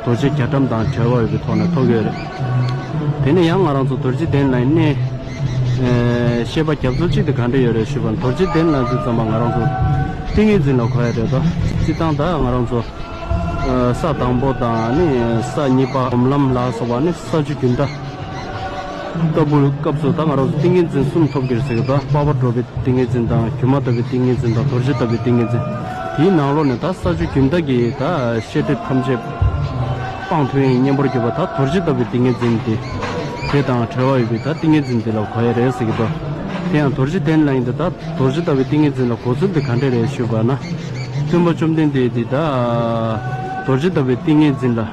རྡོ་རྗེ་རྒྱ་གྲམ་དང་བྲལ་བ་འོས་པའི་ཐོག་ནས་ཐོ་གས་རེད། དེ་ནས་ཡང་ང་རང་ཚོ་རྡོ་རྗེ་གདན་ལ་གནས། ཤེས་པ་རྒྱ་མཚོ་གཅིག་དེ་ག་འདྲ་ཡོད་རེད་ཞུས་པར་རྡོ་རྗེ་གདན་ལ་འཛིན་ཙམ་པ་ང་རང་ཚོ་ཏིང་ངེ་འཛིན་ལ་གོ་ཡ་རེད་དོ། སྤྱིར་བཏང་ད་ང་རང་ཚོ་ས་དང་པོ་དང་ནི་ས་གཉིས་པ་སྒོམ་ལམ་ལ་སོགས་པ་ནི་ས་བཅུ་རྒྱུན་མཐའ། ལྟ་བུར་སྐབས་སུ་དང་ང་རོ་སོགས་ཏིང་ངེ་འཛིན་གསུམ་ཐོབ་གྱུར་ཟེར་གྱི་དང་དཔའ་བར་འགྲོ་བའི་ཏིང་ངེ་འཛིན་དང་སྒྱུ་མ་ལྟ་བུའི་ཏིང་ངེ་འཛིན་དང་དོར་བྱེད་ལྟ་བུའི་ཏིང་ངེ་འཛིན། དེའི་ནང་ལོགས་ནས་དག་ས་ཆུ་རྒྱུན་དག་གིས་དག་ཤེས་སྒྲིབ་ཐམས་ཅད་སྤངས་དོན་ཡིན་སྙམ་པར་གྱུར་པ་དག་དོར་བྱེད་ལྟ་བུའི་ཏིང་ངེ་འཛིན་ཏེ། དེ་དང་བྲལ་བ་ཡོད་པས་དག་ཏིང་ངེ་འཛིན་དེ་ལ་གོ་ཡ་རེད་ཟེར་གྱི་དང། དེ་ཡང་དོར་བྱེད་གཏན་ལ་ཡིན་ཏེ་དག་དོར་བྱེད་ལྟ་བུའི་ཏིང་ངེ་འཛིན་ལ་གོ་ཚུལ་འདི་ག་འདྲ་རེད་ཞུས་པ་ན། སྟོན་པ་བཅོམ་ལྡན་འདས་དེས་དག་དོར་བྱེད་ལྟ་བུའི་ཏིང་ངེ་འཛིན་ལ།